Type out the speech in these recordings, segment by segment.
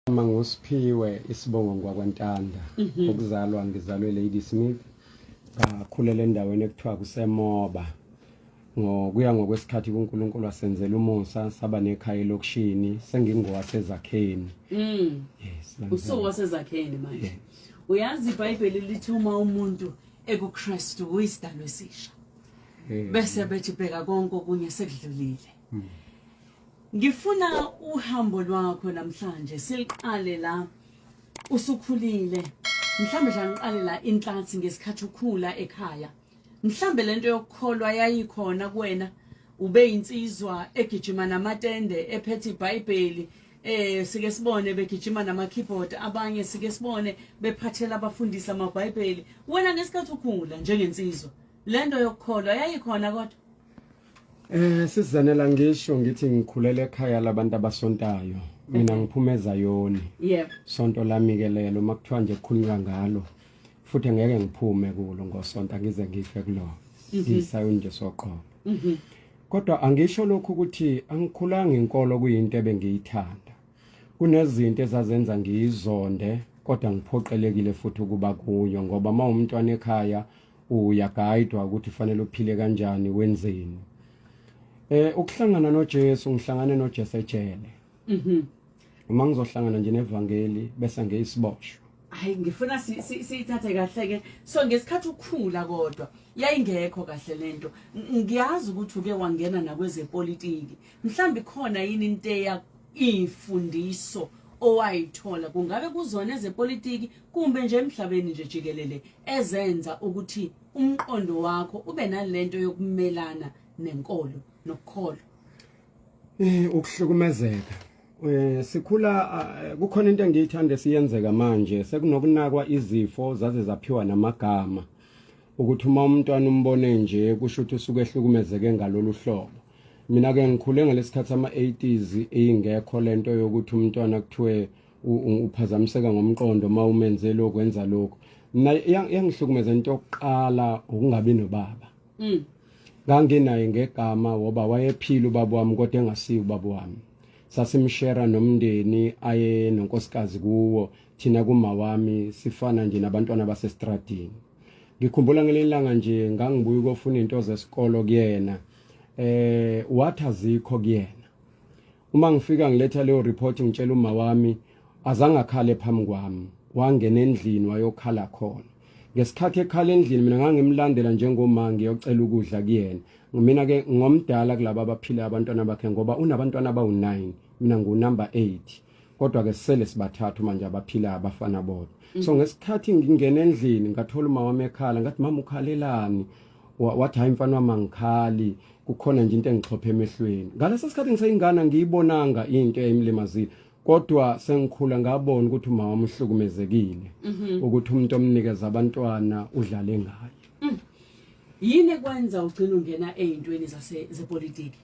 Uma nguSiphiwe isibongo ngwakwantanda mhm. ukuzalwa ngizalwe Lady Smith ngakhulela endaweni ekuthiwa kusemoba ngokuya ngokwesikhathi kuNkulunkulu wasenzela umusa saba nekhaya elokushini sengingowasezakheni mm yes usuwasezakheni manje uyazi iBhayibheli lithi uma umuntu ekuKristu uyisidalwa esisha bese bethi bheka konke okunye sekudlulile mm. Ngifuna uhambo lwakho namhlanje siliqale la usukhulile mhlambe nje angiqale la inhlathi ngesikhathi ukhula ekhaya mhlambe lento yokukholwa yayikhona kuwena ube insizwa egijima namatende ephethe iBhayibheli eh sike sibone begijima nama keyboard abanye sike sibone bephathela abafundisi amaBhayibheli wena ngesikhathi ukhula njengensizwa lento yokukholwa yayikhona kodwa Eh sizanela ngisho ngithi ngikhulele ekhaya labantu abasontayo mina mhm. ngiphuma ezayoni yep sonto lami ke lelo makuthiwa nje kukhulunywa ngalo futhi ngeke ngiphume kulo ngosonta ngize ngife kulo mhm. ngisayo nje soqobo mhm. kodwa angisho lokhu ukuthi angikhulanga inkolo kuyinto ebengiyithanda kunezinto ezazenza ngiyizonde kodwa ngiphoqelekile futhi ukuba kuyo ngoba uma umntwana ekhaya uyagaidwa ukuthi fanele uphile kanjani wenzeni eh ukuhlangana noJesu ngihlangane noJesu ejele mhm uma ngizohlangana nje nevangeli bese ngeyisiboshwa hayi ngifuna siyithathe kahle ke so ngesikhathi ukhula kodwa yayingekho kahle lento ngiyazi ukuthi uke wangena nakwezepolitiki mhlambi khona yini into eya imfundiso owayithola kungabe kuzona ezepolitiki kumbe nje emhlabeni nje jikelele ezenza ukuthi umqondo wakho ube nalento yokumelana nenkolo nokukholwa eh ukuhlukumezeka Eh sikhula eh, kukhona into engiyithanda siyenzeka manje sekunokunakwa izifo zaze zaphiwa namagama ukuthi uma umntwana umbone nje kusho ukuthi usuke ehlukumezeke ngalolu hlobo mina ke ngikhule ngalesikhathi ama 80s ingekho lento yokuthi umntwana kuthiwe uphazamiseka ngomqondo uma umenze lokho wenza lokho mina yangihlukumeza into yokuqala ukungabi nobaba mm. nganginaye ngegama woba wayephila ubaba wami kodwa engasiyi ubaba wami sasimshera nomndeni aye nonkosikazi kuwo thina kuma wami sifana nje nabantwana basestradini ngikhumbula ngelinye ilanga nje ngangibuya ukofuna into zesikolo kuyena eh wathi azikho kuyena uma ngifika ngiletha leyo report ngitshela uma wami azange akhale phambi kwami wangena endlini wayokhala khona ngesikhathi ekhala endlini mina ngangimlandela njengomama ngiyocela ukudla kuyena mina ke ngomdala kulabo abaphila abantwana bakhe ngoba unabantwana abawu9 mina ngu number 8 kodwa ke sisele sibathathu manje abaphila abafana bodwa mm. so ngesikhathi ngingena endlini ngathola umama wami ekhala ngathi mama ukhalelani wathi hayi mfana wami angikhali kukhona nje into engixhophe emehlweni ngaleso sikhathi ngiseyingana ngiyibonanga into eyimlimazile kodwa sengikhula ngabona ukuthi umama umhlukumezekile mhm. ukuthi umuntu omnikeza abantwana udlale ngaye mm. yini kwenza ugcina ungena ezintweni zase zepolitiki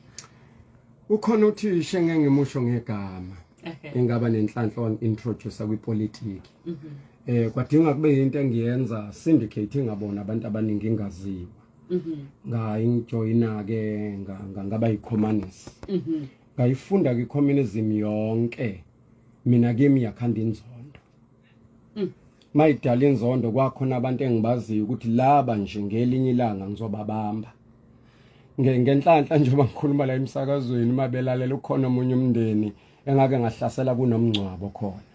Ukhona uthisha engengimusho ngegama. Engaba nenhlanhla on introducer kwipolitiki. Mhm. Eh kwadinga kube into engiyenza syndicate ngabona abantu abaningi ingaziwa. Mhm. Ngayi ngijoyina ke ngaba yicommunist. Mhm. Ngayifunda kwi communism yonke. Mina kimi yakhanda inzondo. mm. mayidala inzondo kwakhona abantu engibaziyo ukuthi laba nje ngelinye ilanga ngizobabamba ngenhlanhla njengoba ngikhuluma la emsakazweni uma belalela ukhona omunye umndeni engake ngahlasela kunomngcwabo khona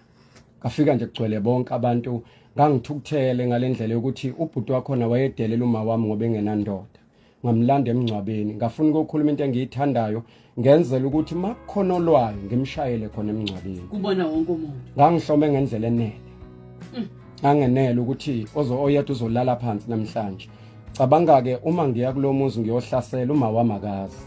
kafika nje kugcwele bonke abantu ngangithukuthele ngalendlela yokuthi ubhuti wakhona wayedelela uma wami ngoba engenandoda ngamlanda emngcwabeni ngafuna ukukhuluma into engiyithandayo ngenzela ukuthi makukholwayo ngimshayele khona emngcwabeni kubona wonke umuntu ngangihlome ngendlela enele mm. angenele ukuthi ozo oyedwa uzolala phansi namhlanje cabanga ke uma ngiya kulomuzi ngiyohlasela uma wamakazi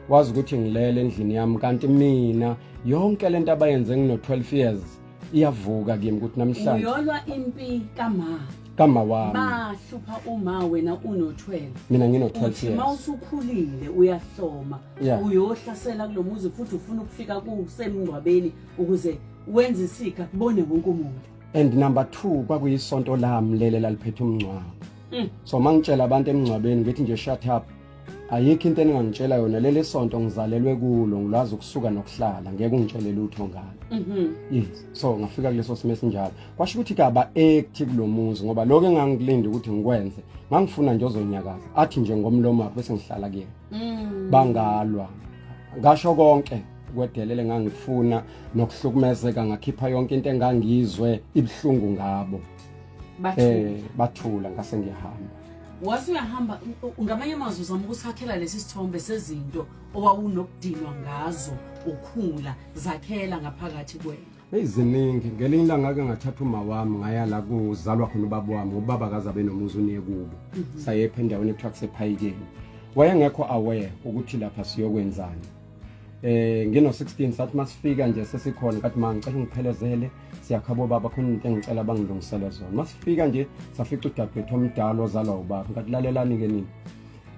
wazi ukuthi ngilele endlini yami kanti mina yonke lento abayenze ngino 12 years iyavuka kimi ukuthi namhlanje uyolwa impi kama kama wami bahlupha uma wena uno 12 mina ngino 12 years uma usukhulile uyahloma yeah. uyohlasela kulomuzi futhi ufuna ukufika kusemngcwabeni ukuze wenze isika kubone wonke umuntu and number 2 kwakuyisonto lami lele laliphethe umngcwabo mm. so mangitshela abantu emngcwabeni ngithi nje shut up ayikho into eningangitshela yona leli sonto ngizalelwe kulo ngilwazi ukusuka nokuhlala ngeke ungitshele lutho ngalo mhm. yes so ngafika kuleso simo esinjalo kwasho ukuthi kaba ekthi kulomuzi ngoba lokho engangilinda ukuthi ngikwenze ngangifuna nje ozonyakaza athi nje ngomlomo wakhe bese ngihlala kuyena mm. bangalwa ngasho konke kwedelele ngangifuna nokuhlukumezeka ngakhipha yonke into engangizwe ibuhlungu ngabo eh bathula ngase ngiyahamba wase uyahamba ngamanye amazwi uzama ukusakhela lesi sithombe sezinto owawunokudinwa ngazo ukhula zakhela ngaphakathi kwena eziningi ngelinye ilanga ke ngathatha uma wami ngaya la kuzalwa khona ubaba wami ubaba kaza benomuzi uniye kubo mhm. sayepha endaweni ekuthiwa kusephayikeni wayengekho aware ukuthi lapha siyokwenzani eh ngino 16 sathi masifika nje sesikhona kathi ma ngicela ungiphelezele siyakhabo baba khona into engicela bangilungisele zona masifika nje safica udadewethu omdala ozalwa ubaba ngathi lalelani ke nini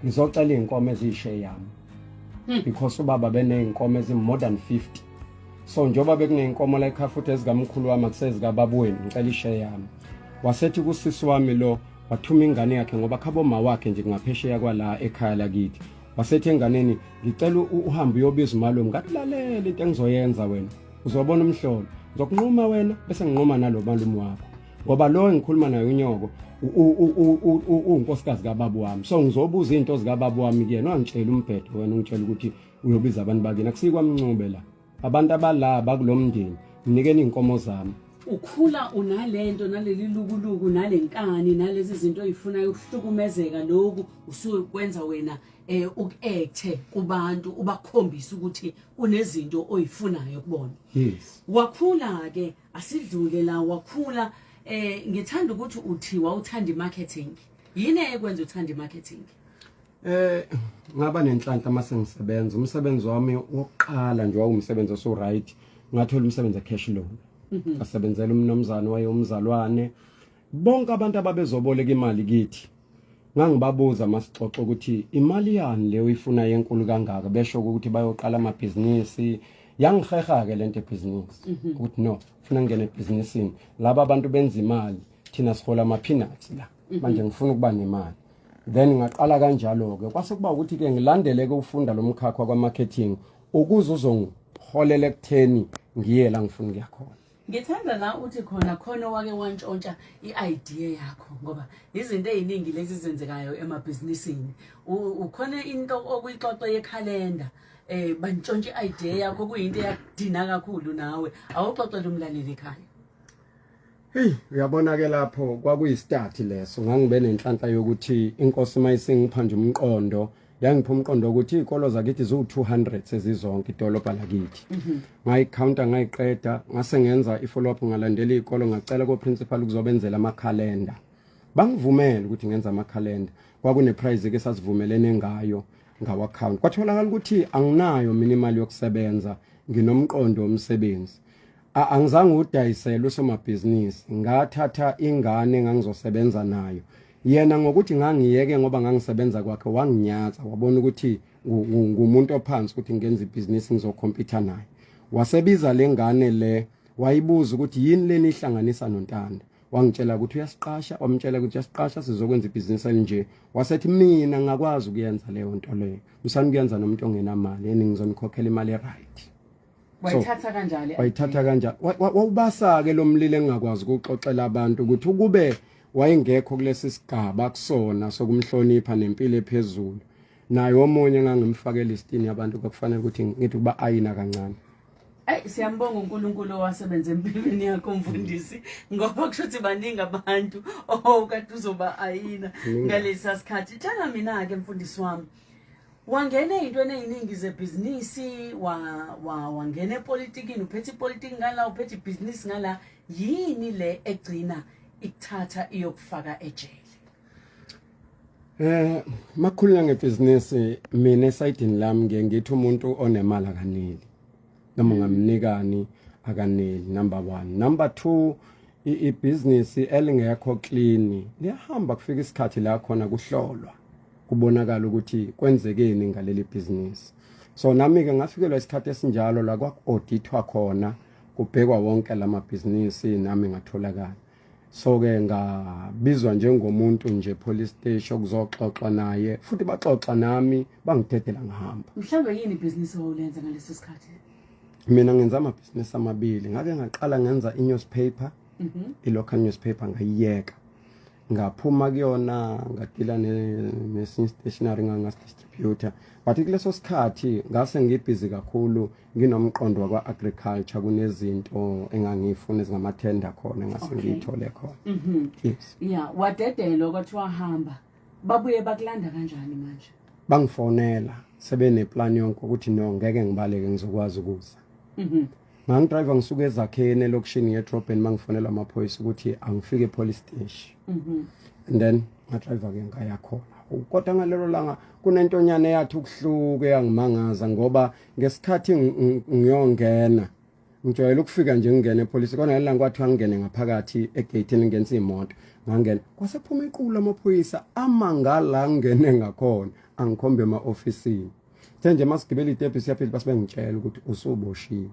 ngizocela inkomo ezishe yami hmm. because ubaba beneyinkomo ezimore than 50 so njengoba bekuneyinkomo la ekhaya futhi ezikamkhulu wami akusezikababweni ngicela ishe yami wasethi kusisi wami lo wathuma ingane yakhe ngoba khabo ma wakhe nje kungaphesheya kwala ekhaya lakithi wasethi enganeni ngicela uhambe uyobiza umalume ngathi lalela into engizoyenza wena uzobona umhlolo ngizokunquma wena bese nginquma nalo malume wakho ngoba lo engikhuluma naye unyoko uwunkosikazi kababa wami so ngizobuza izinto zikababa wami kuyena wangitshela umbhedo wena ungitshela ukuthi uyobiza abantu bakini akusikwamncube la abantu abala bakulomndeni nginikeni inkomo zami ukhula unalento naleli lukuluku nalenkani nalezi zinto oyifunayo ukuhlukumezeka lokhu usukwenza wena eh ukekthe kubantu ubakhombisa ukuthi kunezinto oyifunayo kubona yes wakhula ke asidlule la wakhula eh ngithanda ukuthi uthiwa uthanda imarketing yini ekwenza uthanda imarketing Eh ngaba nenhlanhla uma sengisebenza umsebenzi wami wokuqala nje wawumsebenzi oso right ngathola umsebenzi ecash loan mhm. ngasebenzela umnomzana waye umzalwane bonke abantu ababezoboleka imali kithi ngangibabuza masixoxa ukuthi imali yani leyo ifuna yenkulu kangaka besho ukuthi bayoqala amabhizinisi yangiheha ke lento ebhizinisi mhm. ukuthi no ufuna ngene ebhizinisini laba abantu benza imali thina sihola ama peanuts la mhm. manje ngifuna ukuba nemali then ngaqala kanjalo ke kwase kuba ukuthi ke ngilandele ke ufunda lo mkhakha kwa marketing ukuze uzongiholela ekutheni ngiye la ngifuna ukuya khona ngithanda la uthi khona khona owake wantshontsha i-idea yakho ngoba izinto eziningi lezi zenzekayo emabhizinisini ukhona into okuyixoxo yekhalenda eh bantshontsha i-idea yakho kuyinto eyakudina kakhulu nawe awuxoxele umlaleli ekhaya Hey uyabona ke lapho kwakuyistart leso ngangibe nenhlanhla yokuthi inkosi mayisingipha nje umqondo yangipha umqondo ukuthi izikolo zakithi ziwu 200 sezizonke idolobha lakithi mhm. ngayicounta ngayiqeda ngase ngenza ifollow up ngalandela izikolo ngacela ko principal ukuzobenzela ama calendar bangivumela ukuthi ngenza ama calendar kwakune prize ke sasivumelene ngayo ngawa account kwatholakala ukuthi anginayo mina imali yokusebenza nginomqondo omsebenzi angizange udayisele usomabhizinisi ngathatha ingane ngangizosebenza nayo yena ngokuthi ngangiyeke ngoba ngangisebenza kwakhe wanginyatha wabona ukuthi ngumuntu ophansi ukuthi ngenza ibhizinisi ngizokhompyutha naye wasebiza le ngane le wayibuza ukuthi yini leni ihlanganisa nontanda wangitshela ukuthi uyasiqasha wamtshela ukuthi uyasiqasha sizokwenza ibhizinisi elinje wasethi mina ngakwazi ukuyenza leyo nto leyo musani kuyenza nomuntu ongenamali yini ngizonikhokhela imali e-right wayithatha kanjani wayithatha kanjani wawubasa ke lomlilo engakwazi ukuxoxela abantu ukuthi ukube wayengekho kulesi sigaba kusona sokumhlonipha nempilo ephezulu naye omunye engangimfakela istini yabantu kwakufanele ukuthi ngithi uba ayina kancane Ey siyambonga uNkulunkulu owasebenza empilweni yakho mfundisi ngoba kusho ukuthi baningi abantu okade uzoba ayina ngalesa sikhathi tshela mina ke mfundisi wami wangena ey'ntweni ey'ningi zebhizinisi wangena epolitikini uphethe ipolitiki ngala uphethe ibhizinisi ngala yini le egcina ikuthatha iyokufaka ejele Eh makhulula ngebhizinisi mina esayidini lami ngiye ngithi umuntu onemali akaneli noma ungamnikani akaneli number 1 number 2 ibhizinisi elingekho clean liyahamba kufika isikhathi la khona kuhlolwa kubonakala ukuthi kwenzekeni ngaleli bhizinisi so nami-ke ngafikelwa isikhathi esinjalo la kwaku-odithwa khona kubhekwa wonke la mabhizinisi nami ngatholakala so-ke ngabizwa njengomuntu nje police station okuzoxoxwa naye futhi baxoxa nami bangidedela ngihamba mhlawumbe yini ibhizinisi owawulenza ngaleso sikhathi mina ngenza amabhizinisi amabili ngake ngaqala ngenza i-newspaper mm -hmm. i-local newspaper ngayiyeka ngaphuma kuyona ngadila nesinye stationary ngangasidistributor but kuleso sikhathi ngase ngibhizi kakhulu nginomqondo wakwa-agriculture kunezinto engangiyifuna ezingamathenda khona ngase ngiyithole khona mhm. yes ya wadedelwa kwathiwa hamba babuye bakulanda kanjani manje bangifonela sebeneplan yonke ukuthi no ngeke ngibaleke ngizokwazi ukuza mhm. ngangidrayiva ngisuke ezakheni elokishini ngedrobheni uma ngifonela amaphoyisa ukuthi angifike epolice steshi mhm. and then ngadrayiva-ke ngaya khona kodwa ngalelo langa kunentonyana eyathi ukuhluke yangimangaza ngoba ngesikhathi ngiyongena ngijwayele ukufika nje ngingena epolice kona ngelinanga kwathiwa ngingene ngaphakathi egeyithini ngenza imoto ngangena kwasephuma iqulu lamaphoyisa amangala ngingene ngakhona angikhombe ema-ofisini Kuthe nje masigibela itepe siyaphila base bengitshela ukuthi usuboshiwe.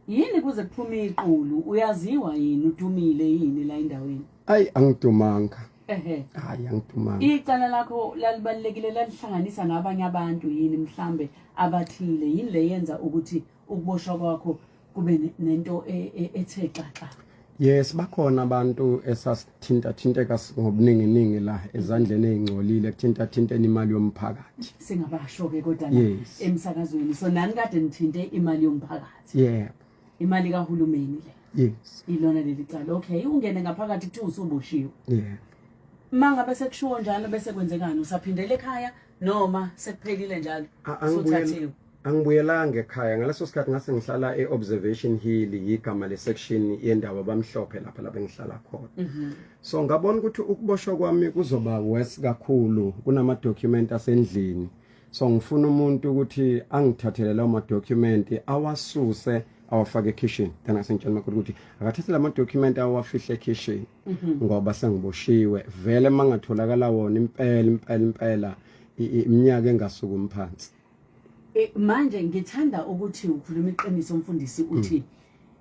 Yini kuze kuphume iqulu uyaziwa yini udumile yini la endaweni? Ayi angidumanga. Ehe. Hayi angidumanga. Icala lakho lalibalekile lalihlanganisa nabanye abantu yini mhlambe abathile yini leyenza ukuthi ukuboshwa kwakho kube nento e, e, ethe xaxa Yes bakhona abantu esasithinta thinteka ngobuningi ningi la ezandleni ezingcolile kuthinta thinteni imali yomphakathi singabasho ke kodwa la emsakazweni so nani kade nithinte imali yomphakathi yeah imali kahulumeni le yes ilona leli cala okay ungene ngaphakathi kuthi usuboshiwe yeah mangabe sekushiwo njalo bese kwenzekani usaphindele ekhaya noma sekuphelile njalo suthathiwe angibuyelanga ekhaya ngaleso sikhathi ngase ngihlala e-observation hill yigama le-section yendawo abamhlophe lapha lapho engihlala khona mhm. so ngabona ukuthi ukuboshwa kwami kuzoba worse kakhulu kunama-document asendlini so ngifuna umuntu ukuthi angithathele lawo ma-document awasuse awafake ekhishini then asengitshela umakoti ukuthi akathathe la ma-document awafihle ekhishini mhm. ngoba sengiboshiwe vele mangatholakala wona impela impela impela iminyaka engasukumi phansi e, manje ngithanda ukuthi ukhuluma iqiniso umfundisi uthi mm.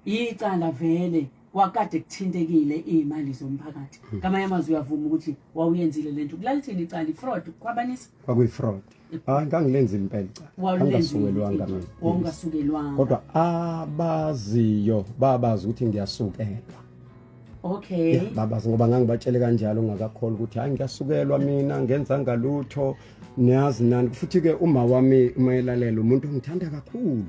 icala vele wakade kuthintekile imali zomphakathi mm. ngamanye amazwi uyavuma ukuthi wawuyenzile lento kulalithini icala ifraud kwabanisa kwakuyi fraud hayi ngangilenza impela angasukelwanga mina kodwa abaziyo babazi ukuthi ngiyasukelwa okay yeah, babazi ngoba ngangibatshele kanjalo ngakakholwa ukuthi hayi ngiyasukelwa mina ngenza ngalutho niyazi nani futhi ke uma wami umayelalela umuntu ongithanda kakhulu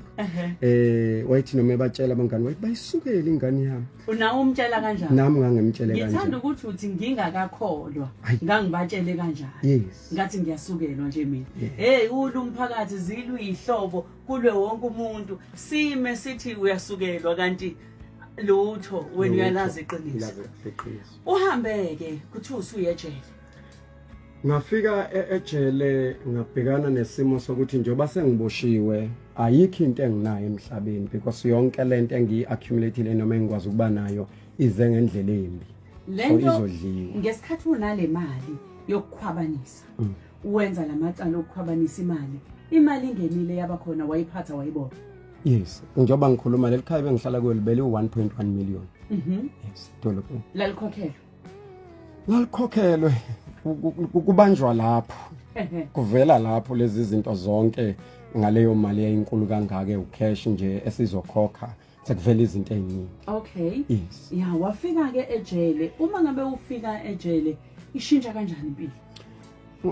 eh wayithi noma ebatshela abangani wayithi bayisukele ingane yami unawo umtshela kanjani nami ngangimtshele kanjani ngithanda ukuthi uthi ngingakakholwa ngangibatshele kanjani yes ngathi ngiyasukelwa nje mina hey ulu umphakathi zilwe ihlobo kulwe wonke umuntu sime sithi uyasukelwa kanti lutho wena uyalazi iqiniso uhambeke kuthi usuyejele ngafika e-, ejele ngabhekana nesimo sokuthi njengoba sengiboshiwe ayikho into enginayo emhlabeni because yonke lento engiyi accumulateile noma engikwazi ukuba nayo ize ngendlela embi lento ngesikhathi unale mali yokukhwabanisa mm. wenza lamacala okukhwabanisa imali imali ingenile yabakhona wayiphatha wayibona yes njengoba ngikhuluma leli khaya bengihlala kuyo libele u-1.1 million mhm. yes dolobheni lalikhokhelwe lalikhokhelwe kubanjwa lapho kuvela lapho lezi zinto zonke ngaleyo mali yayinkulu kangaka ewucash nje esizokhokha sekuvela izinto eziningi okay yes ya wafika ke ejele uma ngabe ufika ejele ishintsha kanjani impilo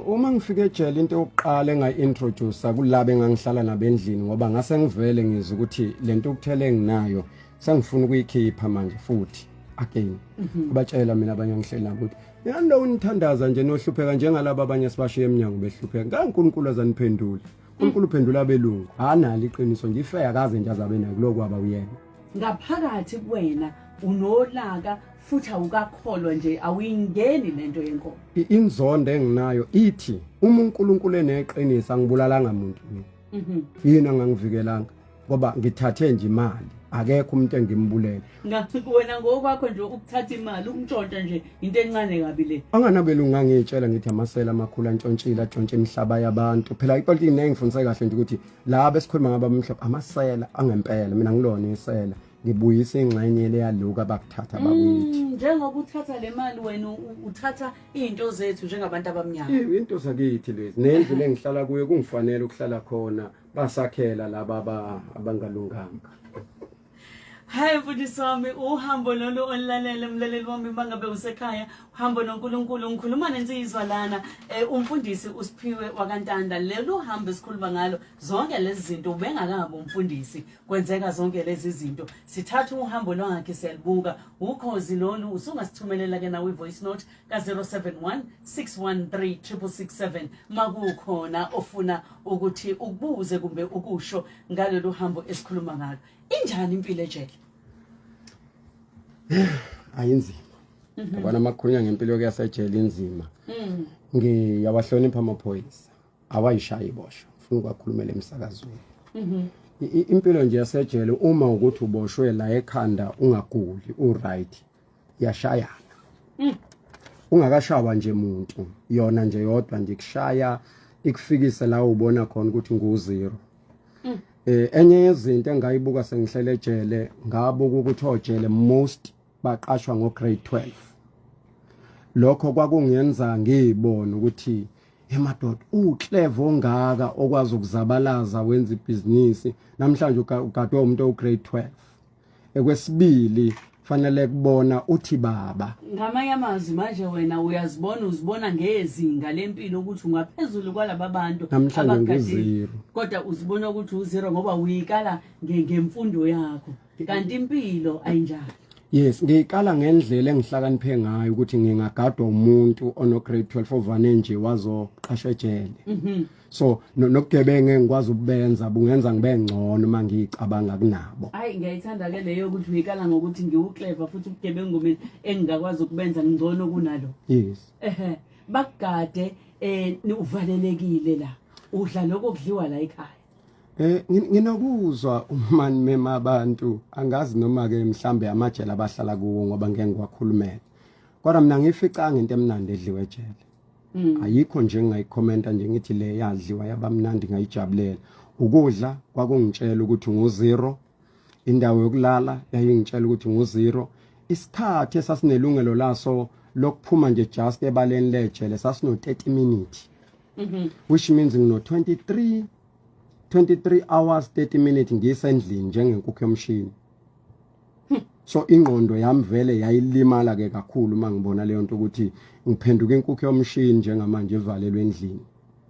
uma ngifika ejele into yokuqala engayi-introduce kulaba engangihlala nabo endlini ngoba ngase ngivele ngizwe ukuthi le nto ukuthele enginayo sengifuna ukuyikhipha manje futhi again mhm. kubatshela mina abanye ngihleli nabo ukuthi yani lo unithandaza nje nohlupheka njengalabo abanye sibashiye emnyango behlupheka kankulunkulu azaniphendule uNkulunkulu uphendula abelungu anali iqiniso nje ife akaze nje azabe nayo kulokwaba uyena ngaphakathi kuwena unolaka futhi awukakholwa nje awuyingeni lento yenkomo inzondo enginayo ithi uma uNkulunkulu eneqiniso angibulalanga muntu mina mhm. yini angangivikelanga ngoba ngithathe nje imali akekho umuntu engimbulele ngathi wena ngokwakho nje ukuthatha imali ukuntshontsha nje into encane kabi le anganabeli ungangitshela ngithi amasela amakhulu antshontshile atshontshe imihlaba yabantu phela ipolitiki naye ngifundise kahle nje ukuthi laba esikhuluma ngaba umhlaba amasela angempela mina ngilona isela ngibuyise ingxenye le yaloku abakuthatha mm, bakithi njengoba uthatha le mali wena uthatha izinto zethu njengabantu abamnyama into zakithi lezi nendlu lengihlala kuyo kungifanele ukuhlala khona basakhela laba aba- abangalunganga Hayi mfundisi wami uhambo lolu olulalele mlaleli wami bangabe usekhaya uhambo noNkulunkulu ngikhuluma nensizwa lana eh, umfundisi uSiphiwe wakantanda lelo hambo esikhuluma ngalo zonke lezi zinto ubengakabi umfundisi kwenzeka zonke lezi zinto sithatha uhambo lwakhe siyalibuka ukhozi lolu usungasithumelela ke nawe voice note ka-071 613 667 makukhona ofuna ukuthi ukubuze kumbe ukusho ngalolu hambo esikhuluma ngalo injani impilo ejele ayinzima mhm. yabona amakhunya ngempilo kuyasejele inzima mhm. ngiyawahlonipha amaphoyisa awayishayi ibosho funa ukwakhulumela emsakazweni mhm. impilo nje yasejele uma ukuthi uboshwe la ekhanda ungaguli uright yashayana mm. ungakashawa nje muntu yona nje yodwa nje kushaya ikufikise la ubona khona ukuthi nguzero mm. eh enye yezinto engayibuka sengihlele ejele ngabuka ukuthi ojele most baqashwa ngo grade 12 lokho kwakungenza ngibone ukuthi emadoda uclever ongaka okwazi ukuzabalaza wenza ibhizinisi namhlanje ugadwe umuntu ograde 12 ekwesibili fanele kubona uthi baba ngamanye amazwi manje wena uyazibona uzibona ngezinga lempilo ukuthi ungaphezulu kwalaba bantu namhlanje kodwa uzibona ukuthi uzero ngoba uyikala ngemfundo yakho kanti impilo ayinjalo Yes, ngiyikala ngendlela engihlakaniphe ngayo ukuthi ngingagadwa umuntu ono grade 12 ovane nje wazoqashwa ejele. Mhm. so nobugebenge ngikwazi ukubenza bungenza ngibe ngcono uma ngiyicabanga kunabo hayi ngiyayithanda ke leyo ukuthi uyikala ngokuthi ngiwuclever futhi ubugebengu mina engingakwazi ukubenza ngcono kunalo yes ehe bakugade eh uvalelekile la udla lokho kudliwa la ekhaya Eh nginokuzwa umani mema abantu angazi noma ke mhlambe amajele abahlala kuwo ngoba ngeke ngiwakhulumele. Kodwa mina ngificanga into emnandi edliwe ejele. Mm. ayikho nje engingayikhomenta nje ngithi le yadliwa yabamnandi ngayijabulela ukudla kwakungitshela ukuthi nguzero indawo yokulala yayingitshela ukuthi nguzero isikhathi esasinelungelo laso lokuphuma nje just ebaleni lejele sasino 30 minutes mm -hmm. which means ngino 23 23 hours 30 minutes ngisendlini njengenkukhu yomshini hmm. so ingqondo yami vele yayilimala ke kakhulu uma ngibona leyo nto ukuthi ngiphenduka inkukhu yomshini njengamanje evalelwe endlini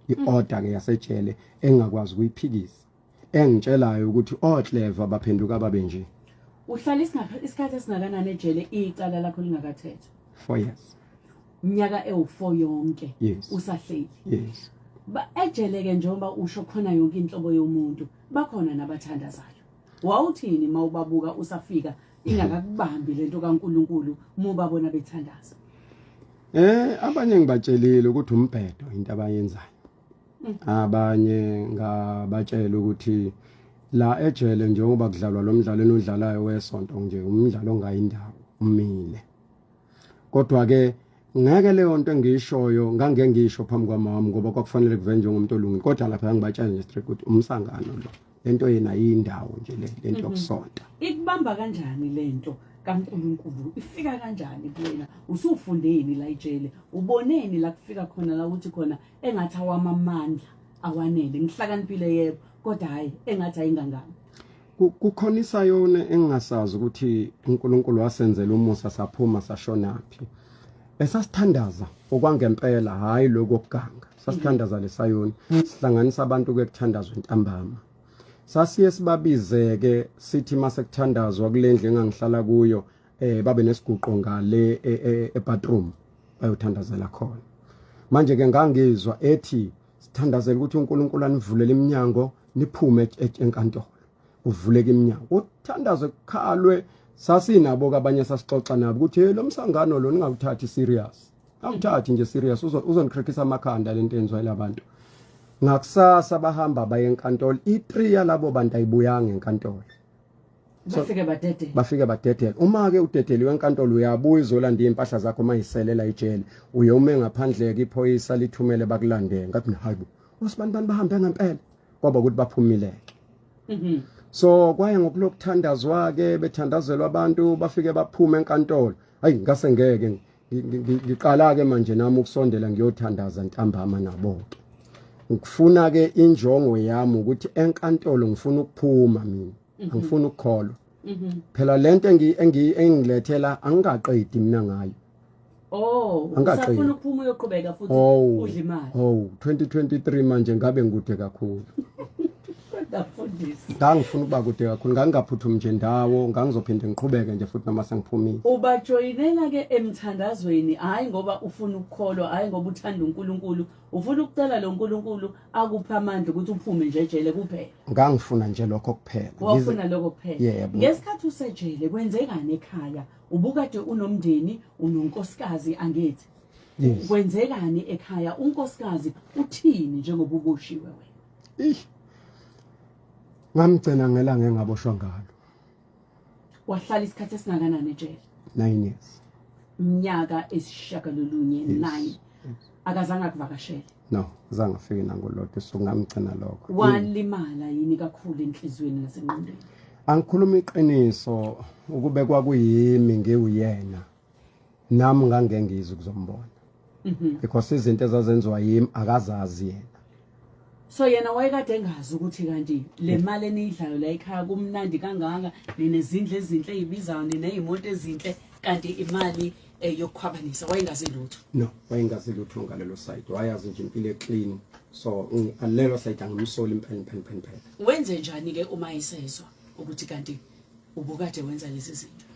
i-order ke yasejele engakwazi ukuyiphikisa engitshelayo ukuthi oclever baphenduka babe nje uhlala isikhathi esingakanani ejele icala lakho lingakathethwa 4 years unyaka ewu4 yonke yes. usahleli yes ejele ke njengoba usho khona yonke inhlobo yomuntu bakhona nabathandazayo wawuthini uma ubabuka usafika ingakakubambi lento kaNkuluNkulu muba bona bethandaza eh abanye ngibatshelile ukuthi umbhedo into abayenzayo mm. abanye ngabatshela ukuthi la ejele njengoba kudlalwa lo mdlalo enodlalayo wesonto nje umdlalo ongayindawo umile kodwa ke ngeke leyo nto engiyishoyo ngangeke ngiyisho phambi kwamama ngoba kwakufanele kuvenje ngomuntu olungile kodwa lapha ngibatshela nje straight ukuthi umsangano lo lento yena yindawo nje lento mhm. yokusonta ikubamba kanjani lento kaNkuluNkulu ifika kanjani kuyena usufundeni la ijele uboneni la kufika khona la ukuthi khona engathi awama amandla awanele ngihlakaniphile yebo kodwa hayi engathi ayingangani kukhona isayona engingasazi ukuthi uNkulunkulu wasenzela umusa saphuma sashonaphi esasithandaza okwangempela hayi lokuganga sasithandaza lesayoni sihlanganisa abantu kuyekuthandazwa intambama sasiye sibabizeke sithi mase kuthandazwa kulendlu engangihlala kuyo eh babe nesiguqo ngale e, e, ebathroom bayothandazela khona manje ke ngangizwa ethi sithandazela ukuthi uNkulunkulu anivulele iminyango niphume enkantolo uvuleke iminyango uthandaze kukhalwe sasinabo kabanye sasixoxa nabo ukuthi hey lomsangano lo ningawuthathi serious Angithathi nje serious uzonikhrikhisa amakhanda lento enzwa labantu. Ngakusasa bahamba baye enkantolo. I3 yalabo bantu ayibuyanga enkantolo. Bafike badedele. Bafike badedele. Uma ke udedeliwe enkantolo uyabuya uzolanda impahla zakho mayiselela ijele. Uye ume ngaphandle ke iphoyisa lithumele bakulandele. Ngathi hayibo. Usibantu bantu bahambe ngempela. Kwaba ukuthi baphumileke. Mhm. So kwaye ngokulokuthandazwa ke bethandazelwa abantu bafike baphume enkantolo. Hayi ngase ngeke ngiqala ke manje nami ukusondela ngiyothandaza ntambama nabo ke ngifuna ke injongo yami ukuthi enkantolo ngifuna ukuphuma mina mhm. angifuni ukukholwa mhm. phela lento engi engilethela angikaqedi mina ngayo Oh, usafuna ukuphuma uyoqhubeka futhi oh, udle imali. Oh, 2023 manje ngabe ngikude kakhulu. ngangifuna ukuba kude kakhulu ngangingaphuthumi nje ndawo ngangizophinde ngiqhubeke nje futhi noma sengiphumile ubajoyinela-ke emthandazweni hhayi ngoba ufuna ukukholwa hhayi ngoba uthanda unkulunkulu ufuna ukucela lo nkulunkulu akuphe amandla ukuthi uphume nje ejele kuphela ngangifuna nje lokho kuphela wafuna lokho kuphela yebo ngesikhathi usejele kwenzekani ekhaya ubukade unomndeni unonkosikazi angithi kwenzekani ekhaya unkosikazi uthini njengoba ukushiwe wena ish ngamgcina ngelanga engaboshwa ngalo wahlala isikhathi esingakanani ejele 9 years mnyaka esishagalolunye 9 akazange akuvakashele no zange afike nangolodwa usungamgcina lokho walimala yini kakhulu enhlizweni nasenqondweni angikhuluma iqiniso ukube kwakuyimi ngiwuyena nami ngangengizi kuzombona mhm. because izinto ezazenziwa yimi akazazi yena so yena wayekade engazi ukuthi kanti le mali eniyidlayo la ekhaya kumnandi kangaka ninezindlu ezinhle eyibizayo nineyimoto ezinhle kanti imali eh, yokukhwabanisa wayengazi lutho no wayengazi lutho ngalelo side wayazi nje impilo eclean so alelo side angimsoli impela impela impela wenze njani ke uma isezwa ukuthi kanti ubukade wenza lezi zinto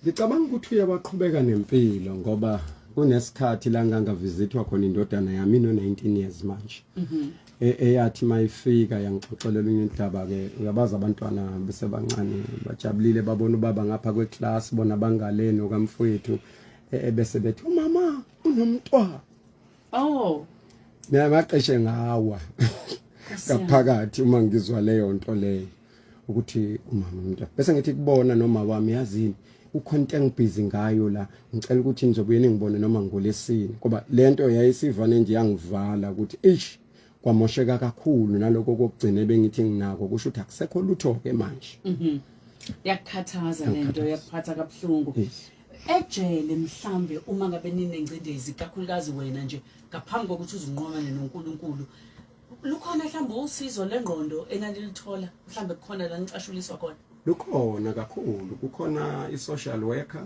Ngicabanga ukuthi uye waqhubeka nempilo ngoba kunesikhathi la ngangavizithwa khona indodana yami no-19 years manje mhm. e, eyathi mayifika yangixoxelela unye udaba-ke uyabazi abantwana besebancane bajabulile babona ubaba ngapha kweclass bona bangaleni okamfowethu e, ebese bethi umama unomntwana oh niyabaqeshe ngawa ngaphakathi uma ngizwa leyo nto leyo ukuthi umama umuntu bese ngithi kubona noma wami yazini ukhona into engibhizi ngayo la ngicela ukuthi nizobuye ningibone noma ngolesini ngoba lento yayisivane nje yangivala ukuthi eish kwamosheka kakhulu naloko kokugcina bengithi nginako kusho ukuthi akusekho lutho ke manje mhm yakukhathaza lento yakuphatha kabuhlungu ejele mhlambe uma ngabe ninengcindezi kakhulukazi wena nje ngaphambi kokuthi uzinqomane noNkulunkulu lukhona mhlawumbe usizo lengqondo enanilithola mhlawumbe kukhona la nicashuliswa khona lukhona kakhulu kukhona i-social worker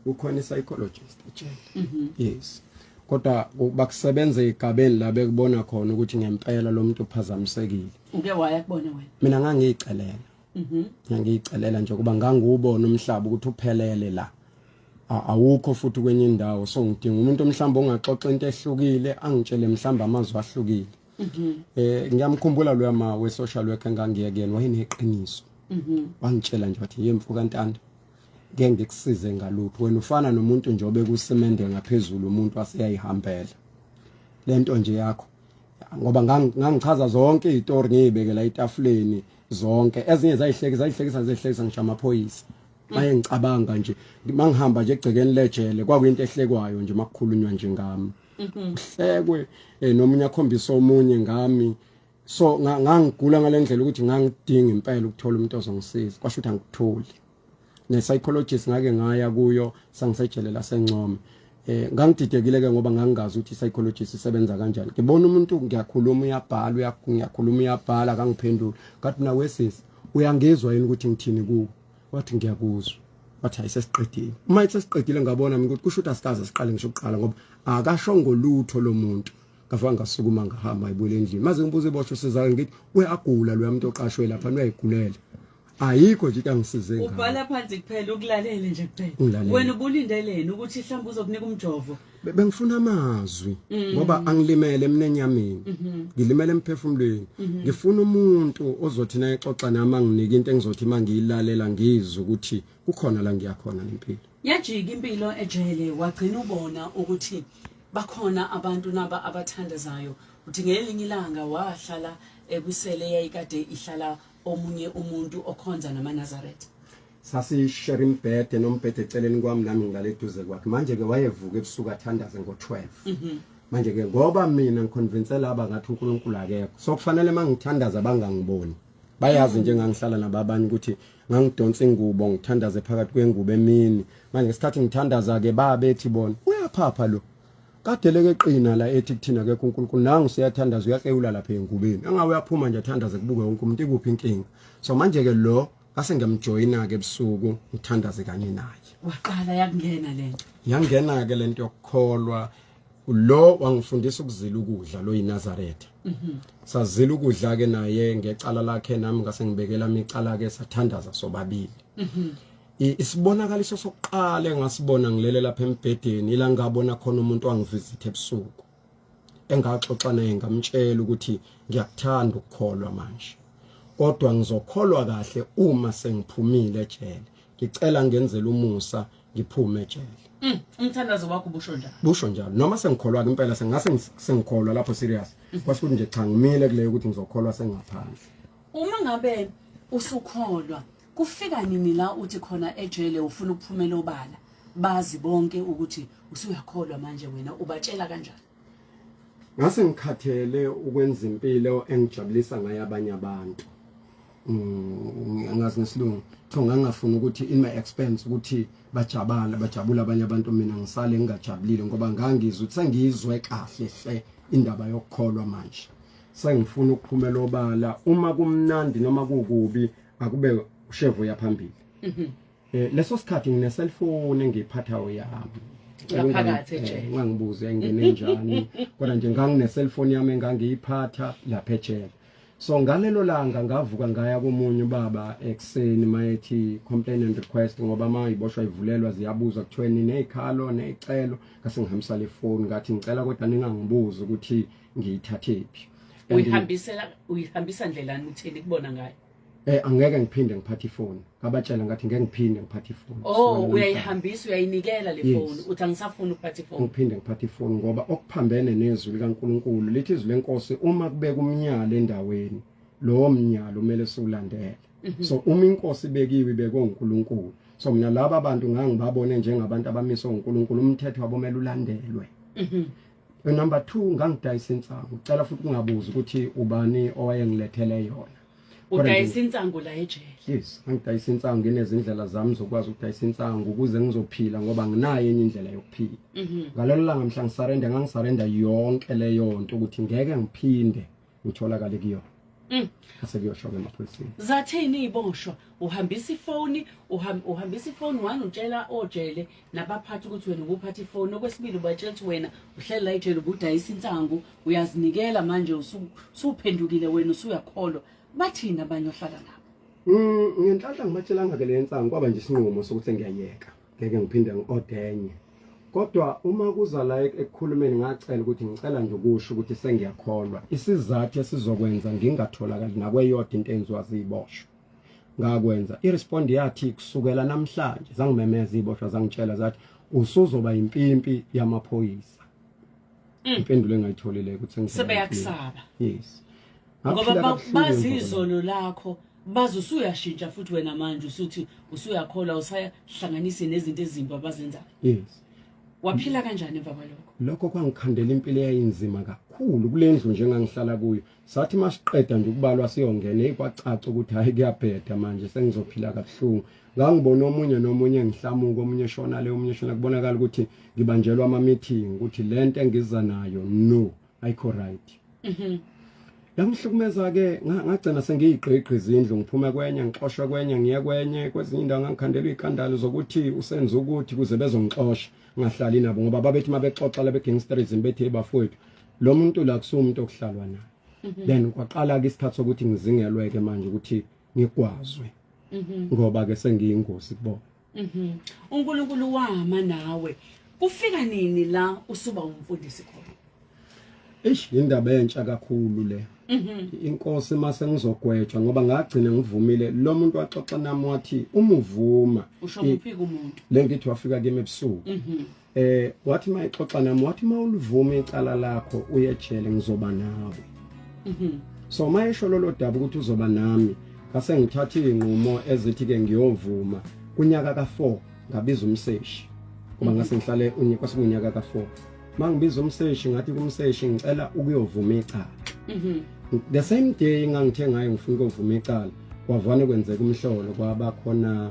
kukhona i-psychologist ejele mhm. yes kodwa bakusebenza igabeni la bekubona khona ukuthi ngempela lo muntu uphazamisekile uke waya kubona wena mina ngangiyicelela mhm. ngiyayicelela nje kuba ngangiwubona umhlaba ukuthi uphelele la awukho futhi kwenye indawo so ngidinga umuntu omhlamba ongaxoxa into ehlukile angitshele mhlamba amazwi ahlukile mhm. eh ngiyamkhumbula lo yama we social worker ngangiyekeni wayeneqiniso mhm. wangitshela nje wathi yemfu kantanda ngeke ngikusize ngalutho wena ufana nomuntu nje obekusemende ngaphezulu umuntu aseyayihambela lento nje yakho ngoba ngangichaza zonke izitori ngiyibekela etafuleni zonke ezinye zayihleki zayihlekisa zehlekisa ngisho amaphoyisa maye ngicabanga nje mangihamba nje egcekeni lejele kwakuyinto ehlekwayo nje makukhulunywa nje ngami uhlekwe mhm. eh, nomunye akhombisa omunye ngami so ngangigula ngalendlela ukuthi ngangidinga impela ukuthola umuntu ozongisiza kwasho ukuthi angikutholi ne psychologist ngake ngaya kuyo sangisejele lasencome eh ngangididekile ke ngoba ngangingazi ukuthi psychologist isebenza kanjani ngibona umuntu ngiyakhuluma uyabhala uyakhuluma uyabhala akangiphenduli ngathi mina wesisi uyangezwa yini ukuthi ngithini kuwe wathi ngiyakuzwa wathi ayisesiqedile uma isesiqedile ngabona mina ukuthi kusho ukuthi asikaze siqale ngisho ukuqala ngoba akasho ngolutho lomuntu ngafanga ngasukuma ngahamba ayibuyele endlini maze ngibuze ibosho sizake ngithi uyagula lo yamuntu oqashwe lapha uyayigulela ayikho nje angisize ngalo ubhala phansi kuphela ukulalele nje kuphela wena ubulindeleni ukuthi mhlawumbe uzokunika umjovo bengifuna amazwi mm. ngoba angilimele emnenyamini mm-hmm. ngilimele emphefumulweni mm-hmm. ngifuna umuntu ozothi naye xoxa nami anginike into engizothi mangiyilalela ngizwe ukuthi kukhona la ngiyakhona ngempilo yajika impilo ejele wagcina ubona ukuthi bakhona abantu naba abathandazayo uthi ngelinye ilanga wahlala ekusele yayikade ihlala omunye umuntu okhonza namaNazaretha sasishare imbhede nombhede eceleni kwami nami ngilale eduze kwakhe manje ke wayevuka ebusuku athandaze ngo-12 mhm. manje ke ngoba mina ngiconvince laba ngathi uNkulunkulu akekho so kufanele mangithandaza bangangiboni bayazi nje ngangihlala nababanye ukuthi ngangidonsa ingubo ngithandaze phakathi kwengubo emini manje ngesikhathi ngithandaza ke babethi bona uyaphapha lo kadele ke qina la ethi kuthina ke kuNkulunkulu nangu siyathandaza uyaxewula lapha engubeni angawe yaphuma nje athandaze kubuke wonke umuntu ikuphi inkinga so manje ke lo ngase ngiyamjoyina ke ebusuku ngithandaze kanye naye waqala yakungena lento yangena ke lento yokukholwa lo wangifundisa ukuzila ukudla lo yiNazaretha mhm. sazila ukudla ke naye ngecala lakhe nami ngase ngibekela micala ke sathandaza sobabili mhm. isibonakaliso sokuqala engasibona ngilele lapha embhedeni ila ngabona khona umuntu wangivisit ebusuku engaxoxa naye ngamtshela ukuthi ngiyakuthanda ukukholwa manje kodwa ngizokholwa kahle uma sengiphumile ejele ngicela ngenzele umusa ngiphume ejele mm, umthandazo wakho busho njalo busho njalo noma sengikholwa ke impela sengase sengikholwa lapho serious mm. kwasho ukuthi nje cha ngimile kuleyo ukuthi ngizokholwa sengaphandle uma ngabe usukholwa Kufika nini la uthi khona ejele ufuna ukuphumela obala bazi bonke ukuthi usuyakholwa manje wena ubatshela kanjani Ngase ngikhathele ukwenza impilo engijabulisa ngayo abanye abantu mm, ngazi nesilungu kuthiwa ngangafuni ukuthi in my expense ukuthi bajabala bajabula abanye abantu mina ngisale ngingajabulile ngoba ngangizwe ukuthi sengizwe kahle hle indaba yokukholwa manje sengifuna ukuphumela obala uma kumnandi noma kukubi akube ushevu ya phambili mhm. eh leso sikhathi ngine cellphone engiphathayo yami ngaphakathi eh, ejele ngangibuze engene njani kodwa nje ngangine cellphone yami engangiyiphatha lapha ejele so ngalelo langa ngavuka ngaya komunye ubaba ekseni mayethi complaint and request ngoba ma iboshwa ivulelwa ziyabuza kuthiweni nezikhalo nezicelo ngase ngihambisa le phone ngathi ngicela kodwa ningangibuza ukuthi ngiyithathephi uyihambisela uyihambisa ndlelani uthini kubona ngayo eh angeke ngiphinde ngiphathe ifoni ngabatshela ngathi ngeke ngiphinde ngiphathe ifoni oh uyayihambisa uyayinikela le foni uthi angisafuni ukuphatha ifoni ngiphinde ngiphathe ifoni ngoba okuphambene nezwi likaNkuluNkulu lithi izwi lenkosi uma kubeka umnyala endaweni lowo mnyala umele siwulandele mhm. so uma inkosi ibekiwe ibekwe uNkulunkulu so mina laba bantu ngangibabone njengabantu abamiswe uNkulunkulu umthetho wabo mele ulandelwe mhm. Number 2 ngangidayisa insangu. Ucela futhi kungabuzi ukuthi ubani owayengilethele yona. udayisa insangu la ejele yes ngidayisa insangu nginezindlela zami zokwazi ukudayisa insangu ukuze ngizophila ngoba nginayo enye indlela yokuphila mhm. ngalelo langa mhla ngisarenda ngangisarenda yonke leyo nto ukuthi ngeke ngiphinde utholakale kuyona Mm. Ase kuyosho ke emaphoyiseni. Zathini iboshwa? Uhambisa ifoni, uhambisa ifoni wani utshela ojele nabaphathi ukuthi wena ubuphatha ifoni. Okwesibili ubatshela ukuthi wena uhlela ejele ubudayisa insangu, uyazinikela manje usuphendukile wena usuyakholwa. Bathini abanye ohlala nabo? Mm, ngenhlanhla ngibatshelanga ke le nsangu kwaba nje isinqumo sokuthi ngiyayeka. ngeke ngiphinde ngi-odenye kodwa uma kuza la ekukhulumeni ngacela ukuthi ngicela nje ukusho ukuthi sengiyakholwa isizathu esizokwenza ngingatholakali nakweyodwa into enziwa ziyiboshwa ngakwenza irespond yathi kusukela namhlanje zangimemeza iboshwa zangitshela zathi usuzoba impimpi yamaphoyisa mm. impendulo engayitholile ukuthi ngisebeyakusaba yes ngoba bazi izolo lakho bazi usuyashintsha futhi wena manje usuthi usuyakholwa usahlanganise nezinto ezimbi abazenzayo yes waphila kanjani emva kwalokho lokho kwangikhandela impilo eyayinzima kakhulu kule ndlu njengangihlala kuyo sathi masiqeda nje ukubalwa siyongena ekwacaca ukuthi hayi kuyabheda manje sengizophila kabuhlungu ngangibona omunye nomunye ngihlamuka omunye shona le omunye shona kubonakala ukuthi ngibanjelwa ama meeting ukuthi lento engiza nayo no ayikho right mhm yangihlukumeza ke ngagcina sengiyigqigqi izindlu ngiphume kwenye ngixoshwe kwenye ngiye kwenye kwezinye indawo ngangikhandelwa ikandalo zokuthi usenza ukuthi kuze bezongixosha ngahlali nabo ngoba babethi mabexoxa lebe gangsterism bethi ebafowethu lo muntu la kusumuntu okuhlalwa naye mhm. then kwaqala ke isikhathi sokuthi ngizingelweke manje ukuthi ngigwazwe mhm. ngoba ke sengiyingozi kubona Mhm. UNkulunkulu wama nawe. Kufika nini la usuba umfundisi khona? Eish indaba entsha kakhulu le. Mhm. Inkosi mase ngizogwetshwa ngoba ngagcina ngivumile lo muntu waxoxa nami wathi umuvuma. Usho kuphi kumuntu? Le ngithi wafika kimi ebusuku. Mhm. eh wathi mayixoxa nami wathi mawulivuma icala lakho uye ejele ngizoba nawe mhm so mayesho lolo daba ukuthi uzoba nami ngase ngithatha izinqumo ezithi ke ngiyovuma kunyaka ka4 ngabiza umseshi kuba ngase ngihlale unyaka sikunyaka ka4 mangibiza umseshi ngathi kumseshi ngicela ukuyovuma icala mhm the same day ngangithe ngayo ngifuna ukuvuma icala kwavane kwenzeka umhlolo kwaba khona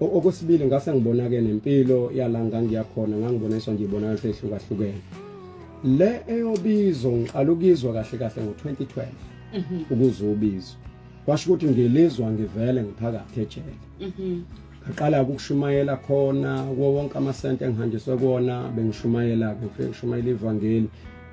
okwesibili ngase ngibona-ke nempilo yala ngangiyakhona ngangiboniswa nje ibonakala seyihlukahlukene le eyobizo ngiqala ukuyizwa kahle kahle ngo-2012 mhm. ukuze ubizwe kwasho ukuthi ngilizwa ngivele ngiphakathi ejele mhm. ngaqala ukushumayela khona kuwo wonke amasente engihanjiswe kona bengishumayela-ke ngifike ngishumayela ivangeli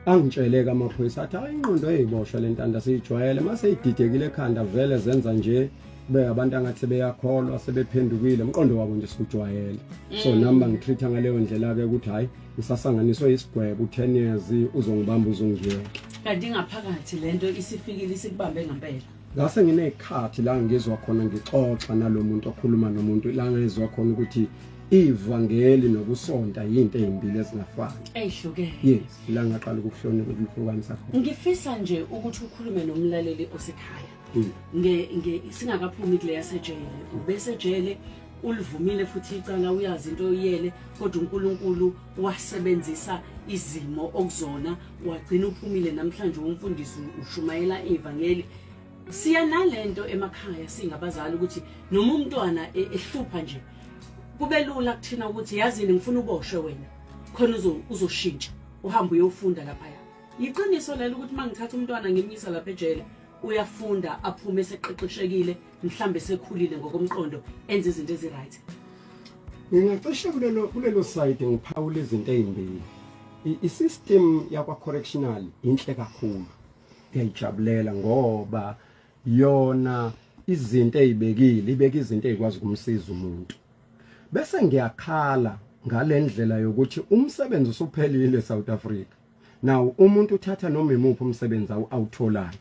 angitsheleke amaphoyisa athi hayi ingqondo eyiboshwa le ntanda siyijwayele uma seyididekile ekhanda vele zenza nje be abantu angathi sebeyakholwa sebephendukile umqondo wabo nje sikujwayele so mm. nami bangitreat-a ngaleyo ndlela-ke ukuthi hhayi ngisasanganiswe isigwebo u-ten years uzongibamba uzongiyeke kanti ingaphakathi le nto isifikile isikubambe ngempela ngase nginey'khathi la ngizwa khona ngixoxa nalo muntu okhuluma nomuntu la ngizwa khona ukuthi ivangeli nokusonta yinto ezimbili ezingafani ezihlukene yes la ngaqala ukuhlonipha ukuhlukanisa khona ngifisa nje ukuthi ukhulume nomlaleli osekhaya hmm. nge nge singakaphumi kule yasejele ubesejele ulivumile futhi icala uyazi into oyiyele kodwa uNkulunkulu wasebenzisa izimo okuzona wagcina uphumile namhlanje umfundisi ushumayela ivangeli siya nalento emakhaya singabazali ukuthi noma umntwana e, ehlupha nje kube lula kuthina ukuthi yazini ngifuna uboshwe wena khona uzoshintsha uhambe uyofunda lapha ya iqiniso lelo ukuthi mangithatha umntwana ngimnyisa lapha ejele uyafunda aphume eseqeqeshekile mhlambe sekhulile ngokomqondo enze izinto eziright ngingacishe kulelo kulelo side ngiphawula izinto ezimbili i-system yakwa correctional inhle kakhulu ngiyayijabulela ngoba yona izinto ezibekile ibeka izinto ezikwazi kumsiza umuntu bese ngiyakhala ngalendlela yokuthi umsebenzi usuphelile eSouth Africa now umuntu uthatha noma imuphi umsebenzi awutholayo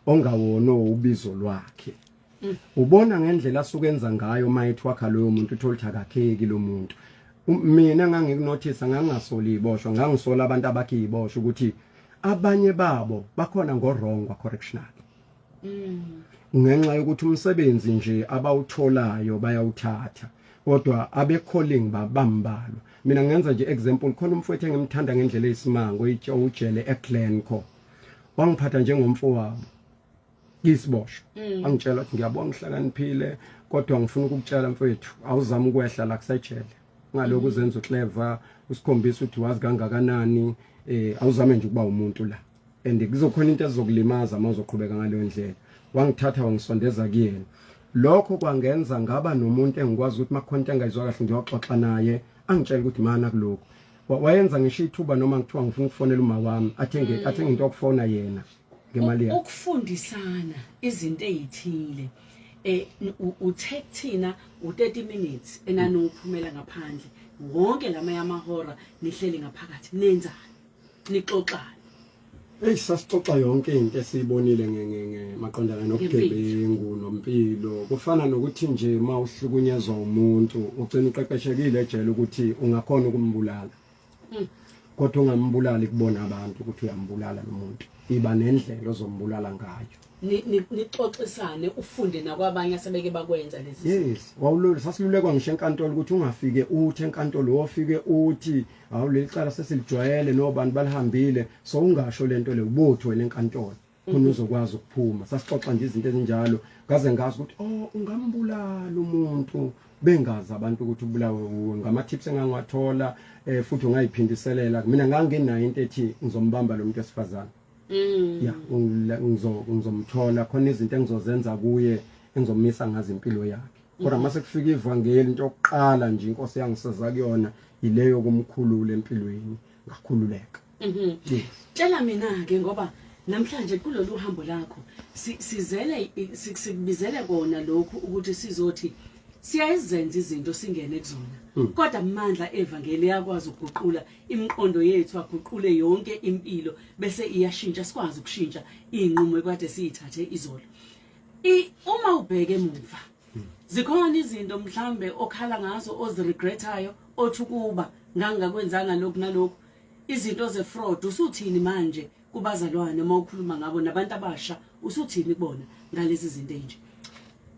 ongawona ubizo lwakhe mm. ubona ngendlela asukenza ngayo mayithi wakha loyo muntu uthola ukuthi akakheki lo muntu um, mina ngangikunothisa ngangingasoli iboshwa ngangisola abantu abakhe iboshwa ukuthi abanye babo bakhona ngorongwa correctional ngenxa yokuthi umsebenzi nje abawutholayo bayawuthatha kodwa abecalling babambalwa mina ngenza nje example khona umfowethu engimthanda ngendlela eyisimanga oyitshe ujele eGlenco wangiphatha njengomfowabo isibosho mm. angitshela ukuthi ngiyabonga ngihlakaniphile kodwa ngifuna ukukutshela mfowethu awuzama ukwehla la kusejele ngalokho uzenza uclever usikhombisa ukuthi wazi kangakanani eh awuzame nje ukuba umuntu la and kuzokhona into ezokulimaza uma uzoqhubeka ngaleyo ndlela wangithatha wangisondeza kuyena lokho kwangenza ngaba nomuntu engikwazi ukuthi makhona into engayizwa kahle ngiyoxoxa naye angitshela ukuthi mana kuloko wayenza ngisho ithuba noma ngithiwa ngifuna ukufonela uma wami athenge mm. athenge into yokufona yena ngemali yakhe ukufundisana izinto ezithile eh uthe kuthina u30 minutes enanophumela ngaphandle wonke lama yamahora nihleli ngaphakathi nenzani nixoxani Hey sasixoxa yonke into esiyibonile ngengenge maqondana nobugebengu nompilo kufana nokuthi nje uma uhlukunyezwa umuntu ugcina uqeqeshekile ejele ukuthi ungakhona ukumbulala hmm. kodwa ungambulali kubona abantu ukuthi uyambulala lo muntu iba nendlela ozombulala ngayo nixoxisane ufunde nakwabanye asebeke bakwenza lezi yes wawulolu sasilulekwa ngisho enkantolo ukuthi ungafike uthi enkantolo wofike uthi hawu leli cala sesilijwayele nobantu balihambile so ungasho lento le ubothi wena enkantolo khona mhm. uzokwazi ukuphuma sasixoxa nje izinto ezinjalo ngaze ngazi ukuthi oh ungambulala umuntu bengazi abantu ukuthi ubulawe wuwe ngama tips engangiwathola eh, futhi ungayiphindiselela mina nganginayo into ethi ngizombamba lo muntu esifazana mm. ya ngizomthola khona izinto engizozenza kuye engizomisa ngazo impilo yakhe kodwa mm-hmm. mase kufika ivangeli into yokuqala nje inkosi yangisiza kuyona yileyo kumkhulula empilweni ngakhululeka mm-hmm. tshela mina ke ngoba namhlanje kulolu hambo lakho sizele sikubizele kona lokhu ukuthi sizothi siyayizenza izinto singene kuzona hmm. kodwa amandla evangeli yakwazi ukuguqula imiqondo yethu aguqule yonke impilo bese iyashintsha sikwazi ukushintsha izinqumo ekade siyithathe izolo uma ubheke emuva zikhona izinto mhlambe okhala ngazo oziregretayo othi ukuba ngangingakwenzanga lokhu nalokhu izinto zefraud usuthini manje kubazalwane uma ukhuluma ngabo nabantu abasha usuthini kubona ngalezi zinto enje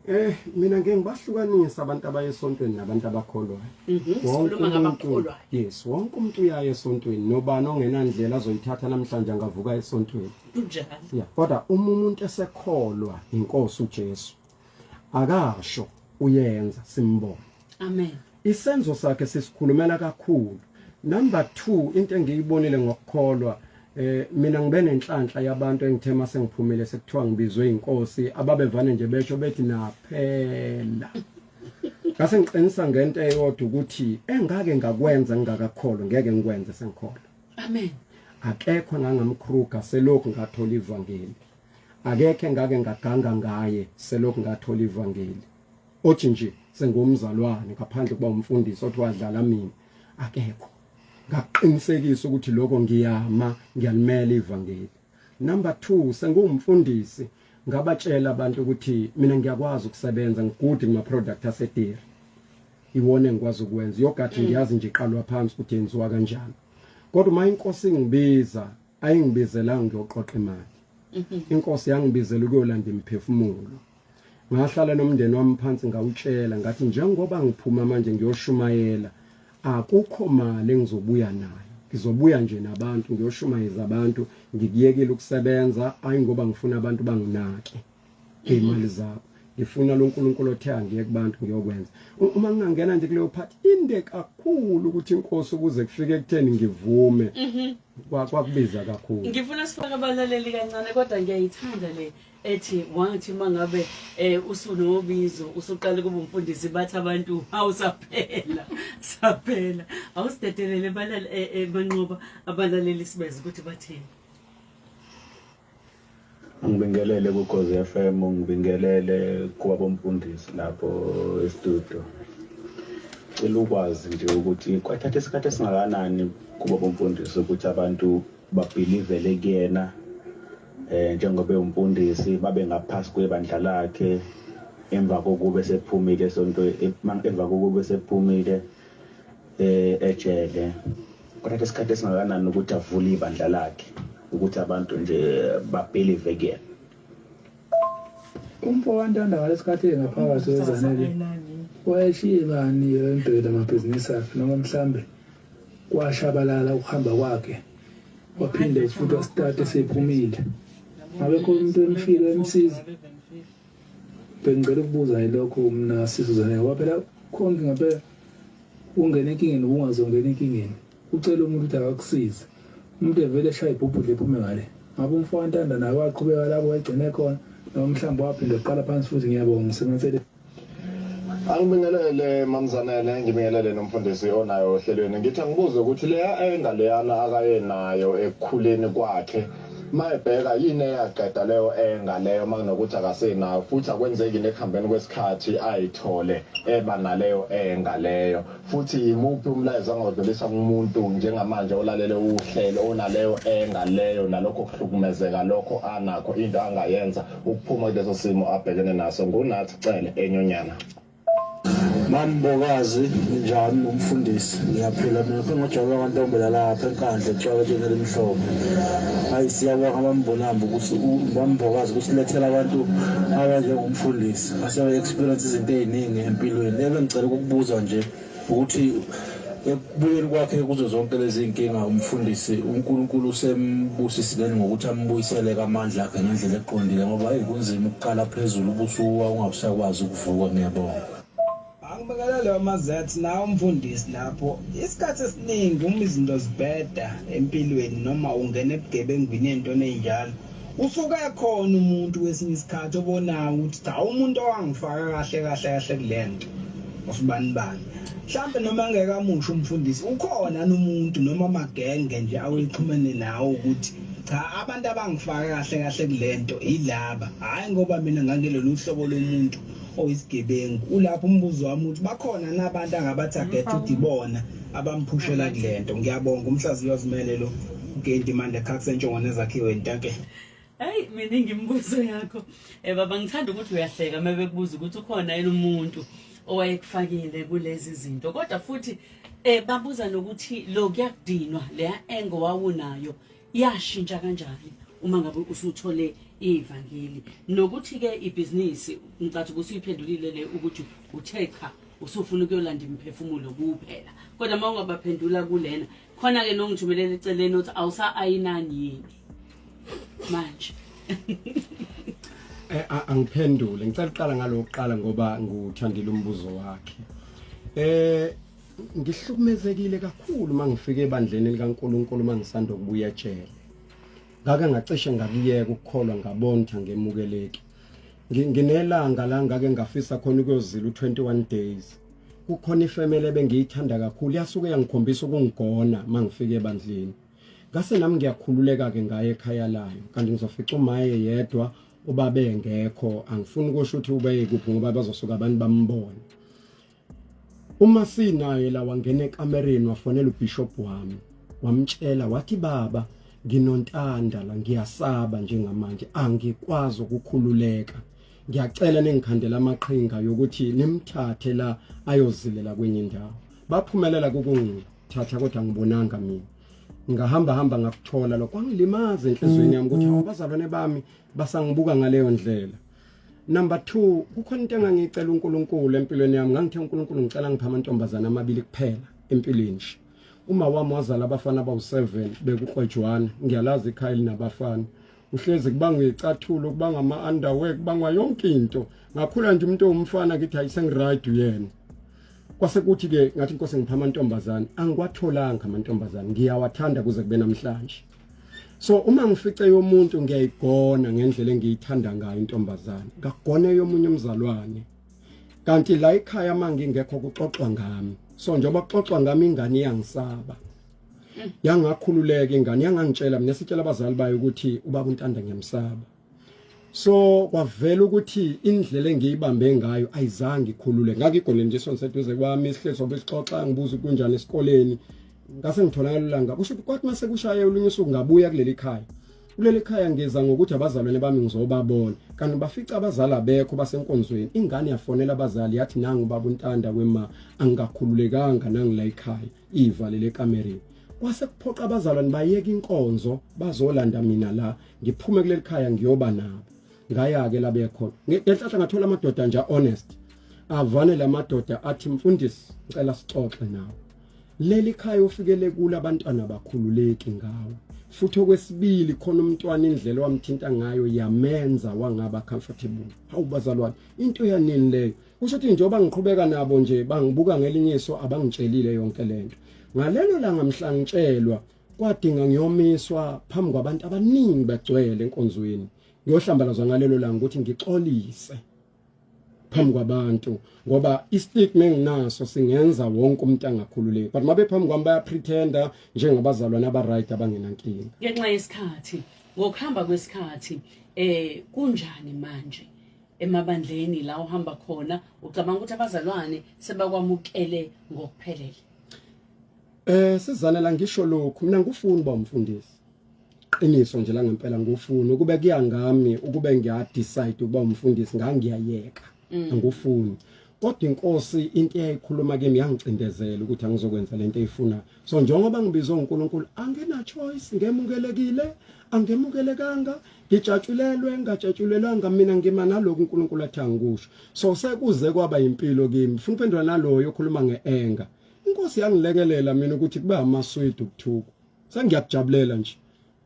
Eh mina ngeke ngibahlukanisa abantu abaye esontweni nabantu abakholwayo. Mhm, wonke umuntu yes, wonke umuntu uyaye esontweni nobani ongenandlela azoyithatha namhlanje angavuka esontweni. Kunjalo. Yeah, kodwa uma umuntu esekholwa inkosi uJesu akasho uyenza simbone amen isenzo sakhe sisikhulumela kakhulu number 2 into engiyibonile ngokukholwa eh mina ngibe nenhlanhla yabantu engithe mase ngiphumile sekuthiwa ngibizwe inkosi ababevane nje besho bethi naphela ngase ngiqinisa ngento eyodwa ukuthi engake ngakwenza ngingakakholwa ngeke ngikwenze sengikholwa amen akekho nangamkhruga selokhu ngathola ivangeli akekho engake ngaganga ngaye selokhu ngathola ivangeli othi nje sengumzalwane ngaphandle kuba umfundisi othi wadlala mina akekho ngaqinisekisa ukuthi lokho ngiyama ngiyalimela ivangeli number 2 sengumfundisi ngabatshela abantu ukuthi mina ngiyakwazi ukusebenza ngigudi kuma product asediri iwona engikwazi ukwenza yogathi mm. ngiyazi nje iqalwa phansi ukuthi yenziwa kanjani kodwa uma inkosi ingibiza ayingibizelanga ngiyoqoqa imali mhm. inkosi yangibizela ukuyolanda imphefumulo ngahlala nomndeni wami phansi ngawutshela ngathi njengoba ngiphuma manje ngiyoshumayela akukho mali engizobuya nayo ngizobuya nje nabantu ngiyoshumayeza abantu ngikuyekile ukusebenza ayi ngoba ngifuna abantu banginake iy'mali zakho ngifuna lo nkulunkulu othe angiye kubantu ngiyokwenza uma ngingangena nje kuleyo phathi inde kakhulu ukuthi inkosi ukuze kufike ekutheni ngivume mhm. kwakubiza kakhulu ngifuna sifake abalaleli kancane kodwa ngiyayithanda le ethi wathi uma ngabe um usunobizo usuqale kuba umfundisi bathi abantu hawu saphela saphela awusidedelele eh, eh, banqoba abalaleli sibeze ukuthi bathini Ngibingelele kuGozi FM, ngibingelele kwabomfundisi lapho estudio. Cela ukwazi nje ukuthi kwathatha isikhathi esingakanani kubo bomfundisi ukuthi abantu babhilivele kuyena eh njengoba umfundisi babe ngaphasi kwebandla lakhe emva kokube sephumile sonto emva kokube sephumile eh ejele kuthatha isikhathi esingakanani ukuthi avule ibandla lakhe ukuthi abantu nje babhelive kuyena umfo wantanda ngalesikhathi engaphakathi wezanele wayeshiye bani emdwele amabhizinisi akhe noma mhlambe kwashabalala ukuhamba kwakhe waphinde futhi wasitati sephumile ngabekho umuntu emshilo emsiza Bengicela ukubuza yilokho mina sisizane ngoba phela konke ngabe ungena enkingeni ubungazongena enkingeni ucela umuntu ukuthi akakusize umuntu evele eshaye ibhubhudle ephume ngale ngabe umfana ntanda naye waqhubeka lapho wayigcine khona noma mhlawumbe waphinde uqala phansi futhi ngiyabonga ngisebenzeleni angibingelele mamzanele ngibingelele nomfundisi onayo ohlelweni ngithi angibuze ukuthi leya engaleyana akayenayo ekukhuleni kwakhe Mayebheka yini eyaqeda leyo enga leyo makunokuthi akasenayo futhi akwenzeki nekuhambeni kwesikhathi ayithole eba naleyo enga leyo futhi yimuphi umlayezo angawudlulisa kumuntu njengamanje olalele uhlelo onaleyo enga leyo nalokho kuhlukumezeka lokho anakho into angayenza ukuphuma kuleso simo abhekene naso ngunathi cele enyonyana Mambokazi njani nomfundisi ngiyaphila mina phengojabe kwantombela lapha enkandla etshwaka tshengela imihlobo hayi siyabonga bambonamba ukuthi bambokazi kusilethela abantu abanjengomfundisi asebe-experience izinto ey'ningi empilweni ebe ngicela ukukubuza nje ukuthi ekubuyeni kwakhe kuzo zonke lezi nkinga umfundisi uNkulunkulu usembusisile ngokuthi ambuyisele kamandla akhe ngendlela eqondile ngoba hey kunzima ukuqala phezulu ubusuwa ungabusakwazi ukuvuka ngiyabonga angibekela leyo mazathi nawe umfundisi lapho isikhathi esiningi uma izinto zibheda empilweni noma ungena ebugebengwini entweni enjalo usuke ekhona umuntu kwesinye isikhathi obonayo ukuthi cha umuntu owangifaka kahle kahle kahle kule nto osibani bani mhlawumbe noma engekamusha umfundisi ukhona nomuntu noma amagenge nje awexhumene nawo ukuthi cha abantu abangifaka kahle kahle kule nto yilaba hhayi ngoba mina ngangelolu hlobo lomuntu oyisigebengu ulapho umbuzo wami ukuthi bakhona nabantu angabathagetha ukuthi ibona abamphushela kulento ngiyabonga umhlaziyi wazimele lo ugenti mande khathi sentshongo nezakhiwe intake hayi mina ngimbuzo yakho eh baba ngithanda ukuthi uyahleka uma bekubuza ukuthi ukhona yini umuntu owayekufakile kulezi zinto kodwa futhi eh babuza nokuthi lo kuyakudinwa leya engo wawunayo yashintsha kanjani uma ngabe usuthole ivangeli nokuthi ke ibhizinisi ngicathi ukuthi uyiphendulile le ukuthi uthe cha usufuna ukuyolanda imiphefumulo kuphela kodwa uma ungabaphendula kulena khona ke nongithumelela eceleni ukuthi awusa ayinani yini manje eh, angiphendule ngicela uqala ngalokuqala ngoba nguthandile umbuzo wakhe eh ngihlukumezekile kakhulu uma ngifike ebandleni likaNkulunkulu uma ngisanda kubuya ejele ngake ngacishe ngakuyeka ukukholwa ngabonitha ngemukeleki nginelanga la ngake ngafisa khona ukuyozila u21 days kukhona ifamily ebengiyithanda kakhulu yasuke yangikhombisa ukungigona mangifike ebandleni ngase nami ngiyakhululeka ke ngaye ekhaya layo kanti ngizofica umaye yedwa ubabe ngekho angifuni kusho ukuthi ubeyekuphi ngoba bazosuka abantu bambone Uma sinaye la wangena ekamereni wafonela ubishop wami wamtshela wathi baba nginontanda la ngiyasaba njengamanje angikwazi ukukhululeka ngiyacela ningikhandela amaqhinga yokuthi nimthathe la ayozilela kwenye indawo baphumelela kukungithatha kodwa ngibonanga mina ngahamba hamba ngakuthola lokho kwangilimaza enhlizweni yami ukuthi mm, mm. abazalwane bami basangibuka ngaleyo ndlela number 2 kukhona into engangicela uNkulunkulu empilweni yami ngangithe uNkulunkulu ngicela ngipha amantombazana amabili kuphela empilweni nje uma wami wazala abafana abawu7 bekuqojwana ngiyalazi ikhaya linabafana uhlezi kubanga icathulo kubanga ama underwear kubanga yonke into ngakhula nje umuntu owumfana ngithi ayisengiright uyena kwase kuthi ke ngathi inkosi ngipha amantombazana angiwatholanga amantombazana ngiyawathanda kuze kube namhlanje so uma ngifice yomuntu ngiyayigona ngendlela engiyithanda ngayo intombazane ngagone yomunye umzalwane kanti la ekhaya mangingekho kuxoxwa ngami so njengoba kuxoxwa ngami ingane iyangisaba yangakhululeka ingane yangangitshela mina sitshela abazali bayo ukuthi ubaba untanda ngiyamsaba so kwavela ukuthi indlela engiyibambe ngayo ayizange ikhulule ngakigone nje sonke seduze kwami isihlelo sobe sixoxa ngibuza kunjani esikoleni ngase ngitholakala ulanga kusho ukuthi kwathi mase kushaye olunye usuku ngabuya kuleli khaya kuleli khaya ngeza ngokuthi abazalwane bami ngizobabona kanti bafica abazali abekho basenkonzweni ingane yafonela abazali yathi nangu baba untanda kwema angikakhululekanga nangila ikhaya ivalele ekamereni kwase kuphoqa abazalwane bayeka inkonzo bazolanda mina la ngiphume kuleli khaya ngiyoba nabo ngaya-ke labekhona ngenhlahla ngathola amadoda nje honest avane la madoda athi mfundisi ngicela sixoxe nawe leli khaya ofikele kulo abantwana bakhululeki ngawo futhi okwesibili khona umntwana indlela wamthinta ngayo yamenza wangaba comfortable hawu bazalwane into yanini leyo kusho ukuthi njengoba ngiqhubeka nabo nje bangibuka ngelinye iso abangitshelile yonke lento ngalelo langa mhlangitshelwa kwadinga ngiyomiswa phambi kwabantu abaningi bagcwele enkonzweni ngiyohlambalazwa ngalelo langa ukuthi ngixolise phambi kwabantu ngoba istigma enginaso singenza wonke umuntu angakhululeki but mabe phambi kwami baya pretender njengabazalwane aba right abangenankinga ngenxa yesikhathi ngokuhamba kwesikhathi eh kunjani manje emabandleni la uhamba khona ucabanga ukuthi abazalwane sebakwamukele ngokuphelele Eh sizana la ngisho lokhu mina ngufuni ba umfundisi. Qiniso nje la ngempela ngufuni ukube kuyangami ukube ngiya decide ukuba umfundisi ngangiyayeka. Mm. Ngufuni. Kodwa inkosi into eyayikhuluma kimi yangicindezela ukuthi angizokwenza lento eyifuna. So njengoba ngibizwe uNkulunkulu angena choice ngemukelekile angemukelekanga ngijatshulelwe ngajatshulelwanga mina ngima naloku uNkulunkulu athi angikusho so sekuze kwaba impilo kimi funa uphendula naloyo okhuluma ngeenga inkosi yangilekelela mina ukuthi kube amaswidi ukuthuka sengiyakujabulela nje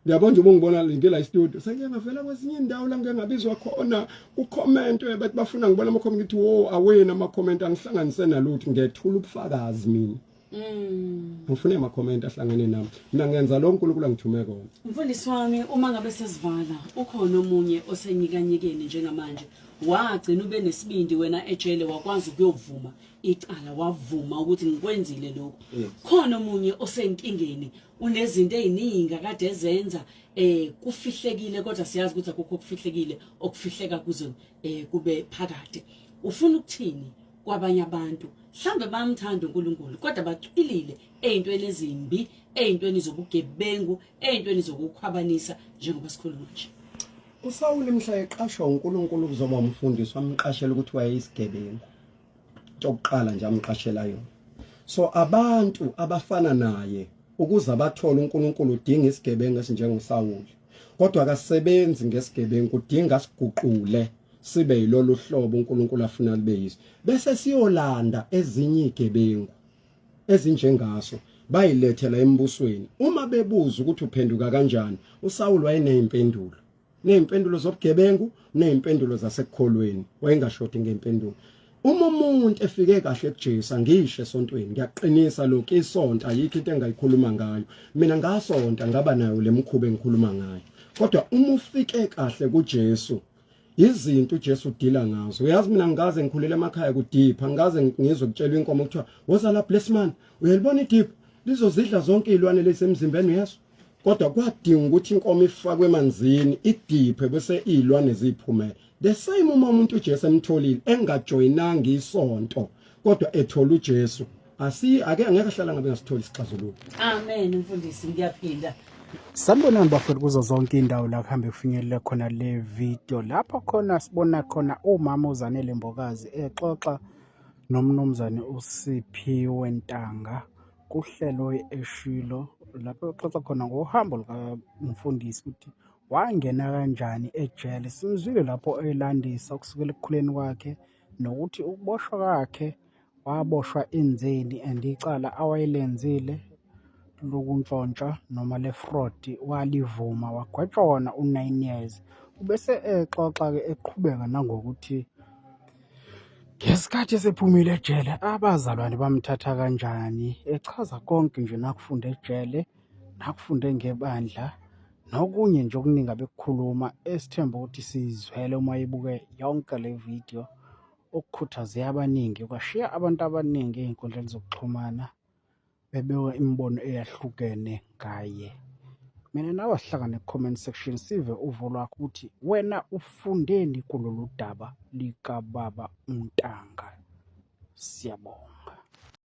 Ngiyabona nje ubungibona ngike la e-studio. Sengike ngavela kwezinye indawo la ngike ngabizwa khona ku-comment bathi bafuna ngibona ama-comment ngithi wo awena ama-comment angihlanganise nalutho ngethula ubufakazi mina. Mm. Ngifune ama-comment ahlangene nami. Mina ngenza lo uNkulunkulu angithume kona. Mfundisi wami uma ngabe sesivala ukhona omunye osenyikanyekeni njengamanje wagcina ube nesibindi wena ejele wakwazi ukuyovuma icala wavuma ukuthi ngikwenzile lokho yes. khona omunye osenkingeni unezinto eziningi akade ezenza eh kufihlekile kodwa siyazi ukuthi akukho okufihlekile okufihleka kuzo eh kube phakade ufuna ukuthini kwabanye abantu mhlambe bamthanda uNkulunkulu kodwa bacwilile ezintweni ezimbi ezintweni zobugebengu ezintweni zokukhwabanisa njengoba sikhuluma nje uSawuli mhla eqashwa uNkulunkulu kuzoba umfundisi wamqashela ukuthi wayeyisigebengu Tokuqala nje amqashela yona. So abantu abafana naye ukuze abathole uNkulunkulu udinga isigebengu esinjengoSawuli. Kodwa akasebenzi ngesigebengu udinga siguqule sibe yilolu hlobo uNkulunkulu afuna libe yiso. Bese siyolanda ezinye igebengu ezinjengaso bayilethela embusweni uma bebuza ukuthi uphenduka kanjani usawulu wayeneyimpendulo nezimpendulo zobugebengu nezimpendulo zasekukholweni wayengashodi ngempendulo uma umuntu efike kahle kuJesu angisho esontweni ngiyaqinisa lokho isonto ayikho into engayikhuluma ngayo mina ngasonta ngaba nayo lemkhuba engikhuluma ngayo kodwa uma ufike kahle kuJesu izinto uJesu udila ngazo uyazi mina ngikaze ngikhulele emakhaya kudipha ngikaze ngizwe kutshelwa inkomo kuthiwa woza la bless man uyalibona idipha lizozidla zonke izilwane lesemzimbeni uyazi kodwa kwadinga ukuthi inkomo ifakwe emanzini idiphe bese izilwane ziphumele the same uma umuntu uJesu emtholile engajoyinanga isonto kodwa ethola uJesu asi ake angeke ahlala ngabe ngasitholi isixazululo amen mfundisi ngiyaphinda Sanibonani bafowethu kuzo zonke iy'ndawo la kuhambe kufinyelele khona le video lapho khona sibona khona umama uZanele Mbokazi exoxa nomnumzane uSiphiwe Ntanga kuhlelo eshilo lapho uxoxa khona ngohambo lukamfundisi ukuthi wangena kanjani ejele simzwile lapho elandisa kusukela ekukhuleni kwakhe nokuthi ukuboshwa kwakhe waboshwa enzeni and icala awayelenzile lokuntshontsha noma le-fraud walivuma wagwetshwa wona u-nine years. Ubese exoxa-ke eqhubeka nangokuthi Ngesikhathi esephumile ejele, abazalwane bamthatha kanjani? Echaza konke nje nakufunde ejele, nakufunde ngebandla, nokunye nje okuningi abekukhuluma esithemba ukuthi sizwele uma ibuke yonke le video okukhuthaze abaningi kwashiya abantu abaningi ey'nkundleni zokuxhumana bebeka imibono eyahlukene ngaye mina nawe asihlangane ku-comment section sive uvo lwakho ukuthi wena ufundeni kulolu daba likababa untanga siyabonga